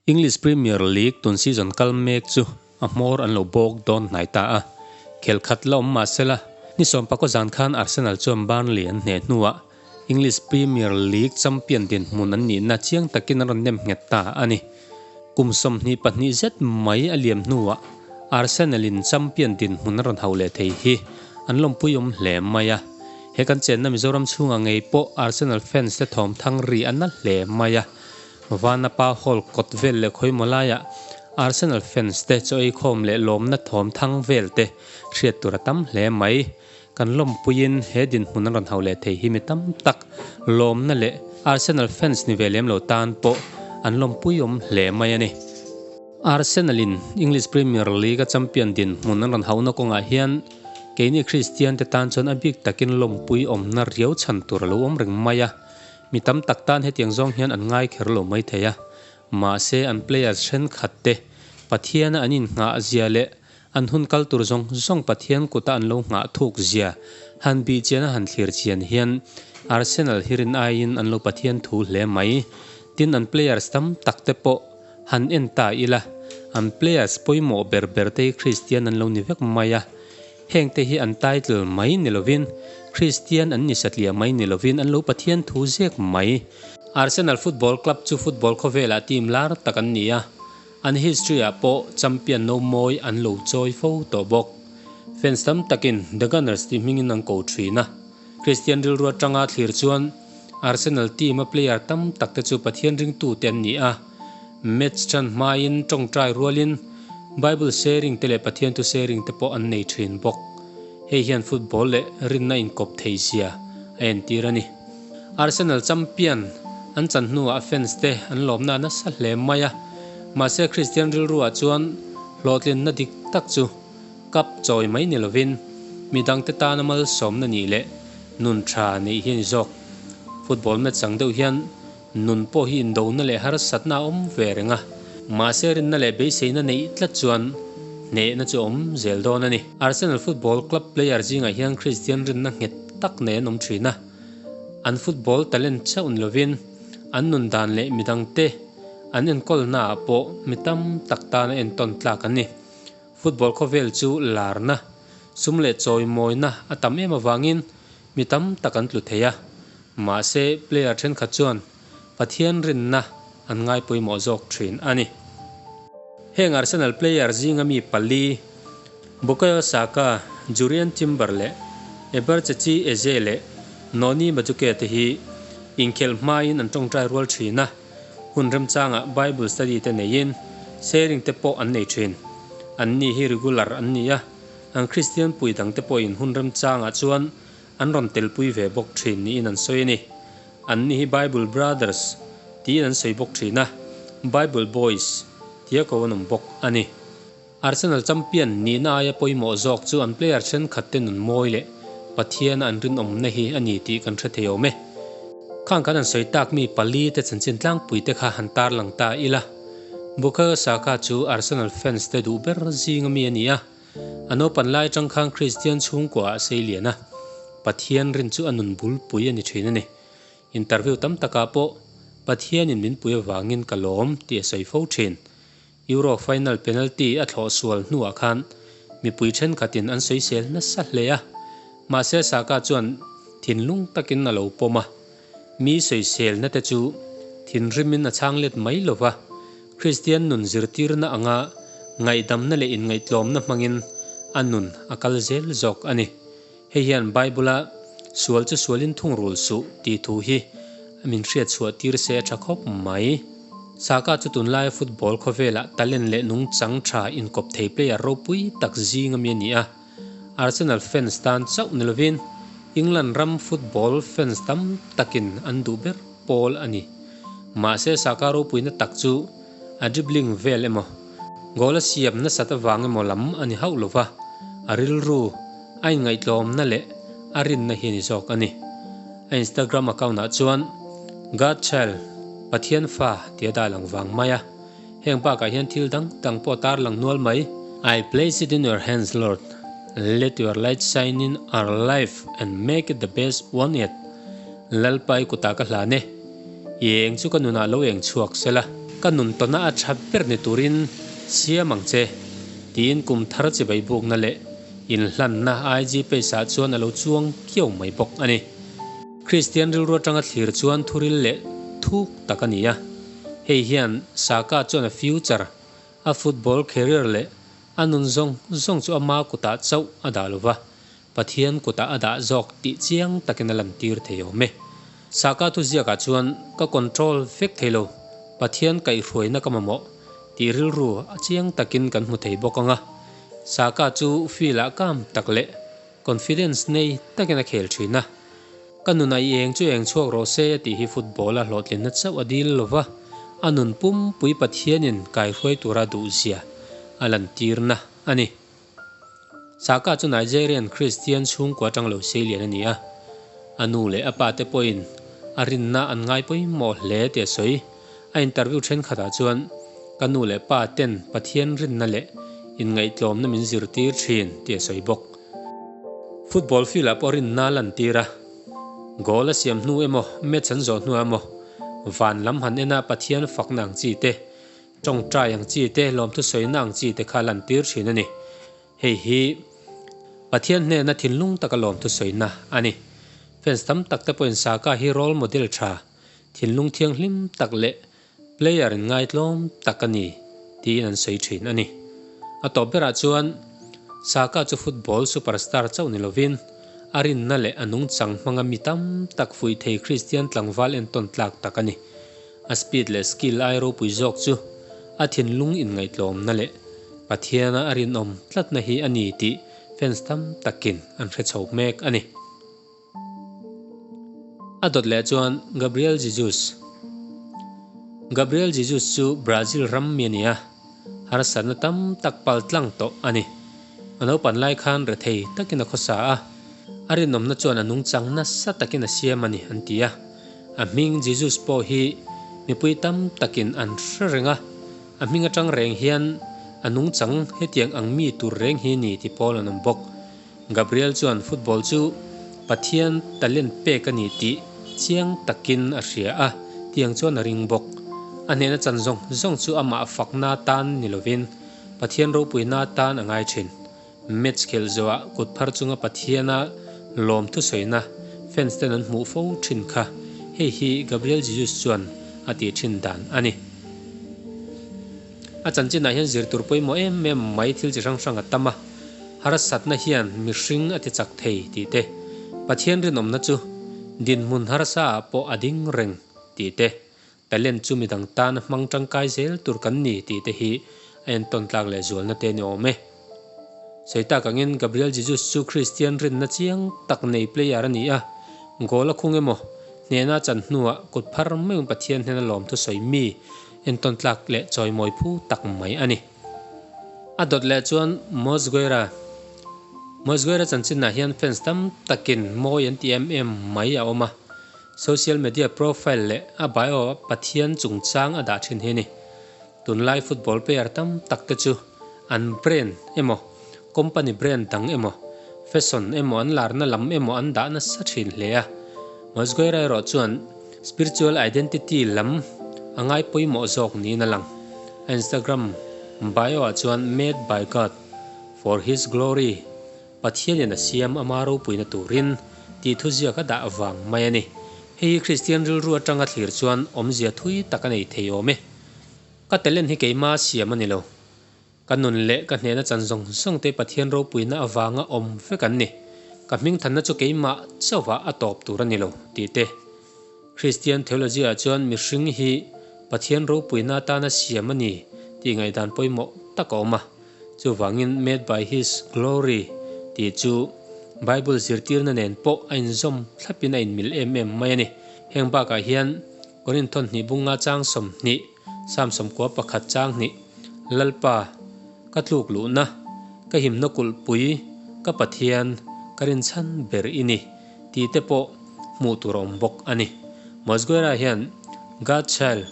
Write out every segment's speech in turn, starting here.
English Premier League tun season kal mek chu a hmawr an lo bawk dawn hnai ta a, khel khat la awm mahsela, ni sawmpakawh zan khan Arsenal chuan Burnley an hneh hnuah English Premier League champion dinhmun an nihna chiang takin an rawn nem nghet ta a ni. Kum sawmhnih pahnih zet mai a liam hnuah Arsenal-in champion dinhmun a rawn hau leh thei hi an lawmpui awm hle mai a. He kan chenna Mizoram chhunga ngei pawh Arsenal fans te thawm thang ri a na hle mai a. Vanapa Hall kawt vel leh khawimawh laiah Arsenal fans te chaw eikhawm leh lawmna thawm thang vel te hriat tur a tam hle mai. Kan lawmpuiin he dinhmun an rawn hau leh thei hi mi tam tak lawmna leh Arsenal fans ni ve lem lo tan pawh an lawmpuiawm hle mai a ni. Arsenal-in English Premier League-a champion dinhmun an rawn hauhna kawngah hian keini Kristiante tan chuan a bik takin lawmpui awmna riau chhan tur a lo awm reng mai a. Mi tam tak tan hetiang zawng hian an ngaikher lo mai thei a, mahse an players thenkhatte Pathiana an inhnghahzia leh An hun kal tur zawng zawng Pathian kuta an lo nghah thuk zia han bih chian a han thlir chian hian Arsenal hi rin aiin an lo Pathian thu hle mai. Tin an players tam tak te pawh han en ta ila, an players pawimawh ber ber te hi Kristian an lo ni vek mai a. Heng te hi an title mai ni lovin, Kristian an ni satliah mai ni lovin an lo Pathian thu zek mai. Arsenal Football Club chu football khawvelah team lar tak an ni a. An history-ah pawh champion no mawi an lo chawi fo tawh bawk. Fans tam takin The Gunners tih hmingin an ko thin a. Christian rilruat tanga thlir chuan Arsenal team-a player tam tak te chu Pathian ringtute an ni a. Match ṭhan hmain ṭawngṭai rualin Bible sharing te leh Pathian tu sharing te pawh an nei thin bawk. Hei hian football leh rinna inkawp thei zia a entir a ni. Arsenal champion an chan hnuah fans te an lawmna a nasa hle mai a, mahse Christian rilruah chuan hlawhtlinna dik tak chu kap chawi mai ni lovin mi dangte tana malsawmna nih leh nun tha neih hi a ni zawk. Football match ang deuh hian nun pawh hi indona leh harsatna a awm ve reng a, mahse rinna leh beiseina neih tlat chuan hnehna chu a awm zel dawn a ni. Arsenal Football Club player zingah hian Christian rinna nghet tak nei an awm thin a. An football talent chauhn lovin an nun dan leh midang te an enkawlna ah pawh mi tam tak tan a entawn tlak a ni. Football khawvel chu larna, sum leh chawi mawina a tam em avangin mi tam tak an tlu thei a. Mahse player thenkhat chuan Pathian rinna an ngai pawimawh zawk thin a ni. Heng Arsenal player zinga mi pali, Bukayo Saka, Jurrian Timber leh Ebertzetsi Eze leh Noni Madueke te hi inkhelh hmain an tawngtai rual thin a, hun remchangah Bible study te neiin sharing te pawh an nei thin. Anni hi regular an ni a, an Kristian pui dangte pawhin hun remchangah chuan An rawn telpui ve bawk thin niin an sawi a ni. Anni hi Bible Brothers tiin an sawi bawk thin a, Bible Boys tia ko an awm bawk a ni. Arsenal champion nihna aia pawimawh zawk chu an player thenkhatte nunmawi leh Pathiana an rinawmna hi a ni tih kan hre thei awm e. Khang kan han sawi tak mi pali te chanchin tlangpui te kha han tarlang ta ila, Bukayo Saka chu Arsenal fans te duh ber zinga mi a ni a, A naupan lai atang khan Kristian chhungkua a sei lian a, Pathian rin chu a nun bul pui a ni thin a ni. Interview tam takah pawh Pathianin min pui avangin ka lawm tih a sawi fo thin. Euro final penalty a thlawh sual hnuah khan mipui thenkhatin an sawisel nasa hle a, mahse Saka chuan thinlung takin a lo pawm a. Mi sawiselna te chu thinrimin a chhang let mai lo va, Kristian nun zirtirna anga ngaihdamna leh inngaihtlawmna hmangin a nun a kal zel zawk a ni. Hei hian Bible-a Sual chu sualin thungrul suh tih thu hi min hriatchhuah tir se a tha khawp mai. Saka chu tunlaia football khawvelah talent leh nungchang tha inkawp thei player ropui tak zinga mi a ni a. Arsenal fans tan chauh ni lovin England ram football fans tam takin an duh ber pawl a ni. Mahse Saka ropuina tak chu a dribbling vel emaw, goal a siam nasat avang emaw lam a ni hauh lova, a rilru, a inngaihtlawmna leh a rinna hi a ni zawk a ni. A Instagram account ah chuan Godchild, Pathianfa, tia dai lo vang mai a. Heng bakah hian thil dang dang pawh a tarlang nual mai. I place it in your hands, Lord, let your light shine in our life and make it the best one yet, Lalpa i kutah ka hlan e, i eng chu ka nunah lo eng chhuak se la, ka nun tawna a tha ber ni turin siam ang che, tiin kum thar chi bai bukna leh inhlanna ai ji pace ah chuan a lo chuang kiau mai bawk a ni. Kristian rilru atanga thlir chuan thuril leh thuk tak a ni a. Hei hian Saka chuan a future, a football career leh a nun zawng zawng chu a ma kutah chauh a dah lo va, Pathian kutah a dah zawk tih chiang takin a lantir thei awm e. Saka thu ziakah chuan ka control vek thei lo, Pathian kaihhruaina ka mamawh tih rilru a chiang takin kan hmu thei bawk ang a. Saka chu field-ah kam tak leh Confidence nei takin a khel thin a, Ka nun aih eng chu eng chhuak rawh se a tih hi football a hlawhtlinna chauh a dil lo va, a nun pumpui Pathianin kaihruai tura duhzia a lantirna a ni. Saka chu Nigerian Kristian chhungkua tang lo seilian a ni a, a nu leh a pate pawhin a rinna an ngai pawimawh hle teh sawi. A interview thenkhatah chuan ka nu leh pa ten Pathian rinna leh inngaihtlawmna min zirtir thin ti a sawi bawk. Football field-ah pawh rinna a lantir a, goal a siam hnu emaw, match an zawh hnuah emaw, van lam han ena Pathian fakna ang chi te, tawngtai ang chi te, lawmthu sawina ang chi te kha a lantir thin a ni. Hei hi Pathian hnena thinlung taka lawmthu sawina a ni. Fans tam takte pawhin Saka hi role model tha thinlung thianghlim tak leh player in ngaitlawm tak a ni tiin an sawi thin a ni. A tawp berah chuan Saka chu football superstar chauh ni lovin a rinna leh a nungchang hmanga mi tam tak fuih thei Christian tlangval en tawn tlak tak a ni. A speed leh skill ai ropui zawk chu a thinlung inngaihtlawmna leh Pathiana a rinawm tlatna hi a ni tih fans tam takin an hre chho hmek a ni. A dawt leh chuan Gabriel Jesus. Gabriel Jesus chu Brazil ram mi a ni a, harsatna tam tak pal tlang tawh a ni. A naupan lai khan rethei takin a khawsa a, a rinawmna chuan a nungchang nasa takin a siam a ni, an ti a. A hming Jesus pawh hi mipui tam takin an hre reng a, a hming atang reng hian a nungchang hetiang ang mi tur reng hi ni ti pawl an awm bawk. Gabriel chuan football chu Pathian talent pek a ni tih chiang takin a hria a, tiang chuan a ring bawk. A hnena chan zawng zawng chu amah fakna atan ni lovin Pathian ropuina atan a ngai thin. Match khelh zawha kut phar chunga Pathiana lawm thusawiina fans ten an hmuh fo thin kha hei hi Gabriel Jesus chuan a ti thin dan a ni. A chanchinah hian zirtur pawimawh em em mai thil chi hrang hrang a tam a, harsatna hian mihring a tichak thei tih te, Pathian rinawmna chu dinhmun harsaah pawh a ding reng tih te, talent chu midang tan a hmang tangkai zel tur kan ni tih te hi a entawn tlak leh zualna te ni awm e. Seitak angin Gabriel Jesus chu Kristian rinna chiang tak nei player a ni a, goal a khung emaw, hnehna a chan hnuah kut phar meuhin Pathian hnena lawmthu sawi mi, Entawntlak leh chawimawi phu tak mai a ni. A dawt leh chuan Mosgueira, Mosgueira chanchinah hian fans tam takin mawi an tih em em mai a awm a, social media profile leh a bio Pathian chungchang a dah thin hi a ni. Tunlai football player tam tak te chu an brand emaw Company brand dang emaw, fashion emaw, an larna lam emaw an dah nasa thin hle a. Mawzgaira erawh chuan spiritual identity lam a ngai pawimawh zawk niin a lang. A Instagram bio-ah chuan Made by God, for His Glory, Pathianin a siam ama ropuina turin, tih thuziak a dah vang mai a ni. Hei hi Kristian rilru atanga thlir chuan awmzia thui tak a nei thei awm e. Ka talen hi keimah a siam a ni lo. Ka nun leh ka hnehna chan zawng zawng te Pathian ropuina avanga awm vek an ni. Ka hming thanna chu keimah chauhah a tawp tur a ni lo tih te. Kristian theology-ah chuan mihring hi Pathian ropuina atana siam a ni tih ngaihdan pawimawh tak a awm a. Chuvangin made by his glory tih chu Bible zirtirna nen pawh a inzawm thlapin a inmil em em mai a ni. Heng bakah hian Korinthon hnih bunga chang sawm hnih, Sam sawmkua pakhat chang hnih, Lalpa, ka tluk luhna, ka himna kulh pui, ka Pathian, ka rinchhan ber i ni tih te pawh hmuh tur a awm bawk a ni. Mosguera hian God child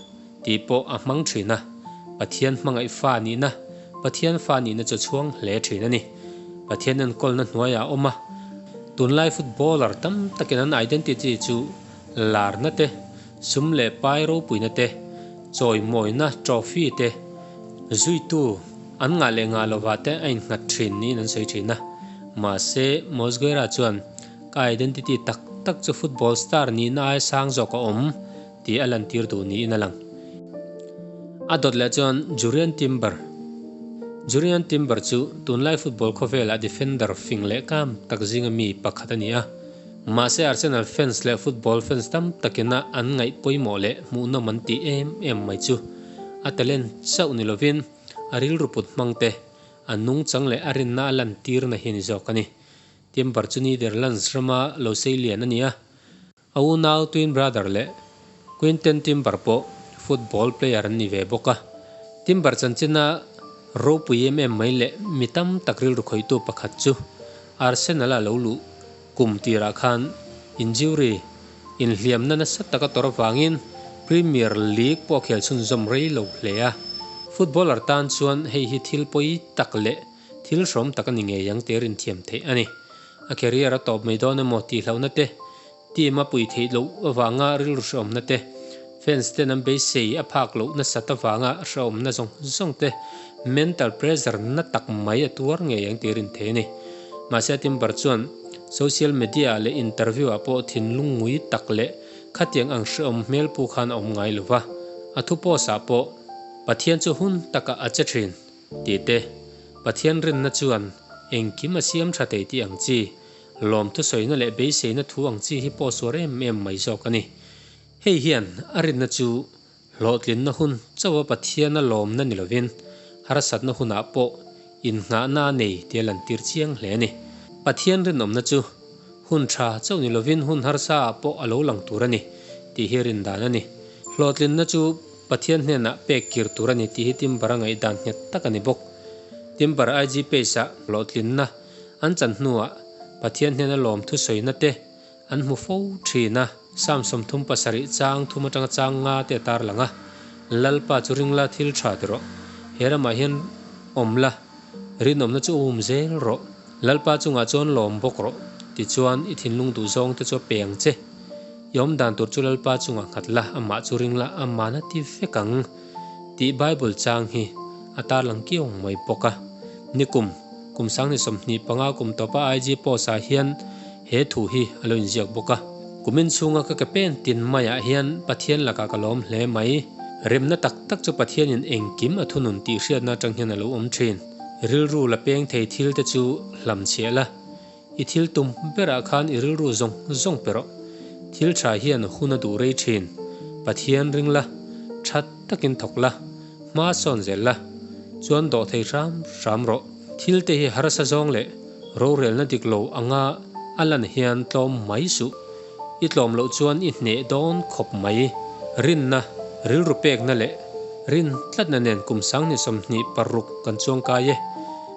tih pawh a hmang thin a, Pathian hmangaih fa nihna, Pathian fa nihna chu a chhuang hle thin a ni. Pathian enkawlna hnuaiah a awm a, tunlai footballer tam takin an identity chu larna te, Sum leh pai ropuina te, chawimawina trophy te zuitu an ngah leh ngah lova te a innghat thin niin an sawi thin a. Mahse, Mosquera chuan, Ka identity tak tak chu football star nihna ai sang zawk a awm, tih a lantir duh niin a lang. A dawt leh chuan Jurrien Timber. Jurrien Timber chu tunlai football khawvelah defender fing lehkam tak zinga mi pakhat a ni a. Mahse Arsenal fans leh football fans tam takin a an ngaih pawimawh leh hmuhnawm an tih em em mai chu a talent chauh ni lovin a rilru put hmang te, a nungchang leh a rinna a lantirna hi a ni zawk a ni. Timber chu Netherlands rama Loseillian a ni a, a unau twin brother leh. Quinten Timber pawh football player an ni ve bawk a, Timber chanchina ropui em em mai leh mi tam tak rilru khawihtu pakhat chu Arsenal-a lo luh kum tirah khan injury inhliamna nasa taka tawrh avangin Premier League pawh a khel chhunzawm rei lo hle a. Footballer tan chuan hei hi thil pawi tak leh thil hrawm tak a ni ngei ang tih a rinthiam theih a ni. A career a tawp mai dawn emaw tihlohna te Team a pui theih loh avanga rilhrawmna te, fans ten an beisei a phak loh nasat avanga hrawmna zawng zawng te mental pressure na tak mai a tuar ngei ang tih a rin thei a ni. Mahse a Timber chuan social media ah leh interview ah pawh thinlung ngui tak leh khatiang ang hrehawm hmel pu khan a awm ngai lo va, a thu post ah pawh Pathian chu hun takah a che thin tih te, Pathian rinna chuan engkim a siam tha thei tih ang chi, Lawm thusawiina leh beiseina thu ang chi hi pawhsuar em em mai zawk a ni. Hei hian a rinna chu hlawhtlinna hun chauha Pathiana lawmna ni lovin harsatna hunah pawh innghahna a nei tia lan tir chiang hle a ni. Pathian rinawmna chu hun tha chauh ni lovin hun harsaah pawh a lo lang tur a ni tih hi rindan a ni. Hlawhtlinna chu Pathian hnenah pek kir tur a ni tih hi Timber-a ngaihdan nghet tak a ni bawk. Timber-a IG page-ah hlawhtlinna An chan hnuah Pathian hnena lawmthu sawinate an hmu fo thin a, Psalm sawmthum pasarih chang thum atanga chang nga te a tarlang a, Lalpa chu ring la thil tha te rawh, he ramah hian awm la rinawmna chu a um zel rawh, Lalpa chungah chuan lawm bawk rawh, tichuan i thinlung duhzawngte chu a peng che, i awmdan tur chu Lalpa chungah nghat la, amah chu ring la, a mahna ti vek ang. Tih Bible chang hi a tarlang kiung mai bawk a. Ni kum, kum sangni sawmhnih panga kum tawpa IG post-ah hian he thu hi a lo inziak bawk a, Kum inchhunga ka ke pen tin maiah hian Pathian lakah ka lawm hle mai. Remna tak tak chu Pathianin engkim a thunun tih hriatna atang hian a lo awm thin. Rilru la peng thei thil te chu hlam chhiah la. I thil tum berah khan i rilru zawng zawng pe rawh. Thil tha hian hun a duh rei thin. Pathian ring la, that takin thawk la, hma sawn zel la, chuan dawh thei hram hram rawh. Thil te hi harsa zawng leh rorelna dik lo anga a lan hian tlawm mai suh. I tlawm loh chuan i hneh dawn khawp mai. Rinna, rilru pekna leh rin tlatna nen kum sang ni sawmhnih paruk kan chuang kai e.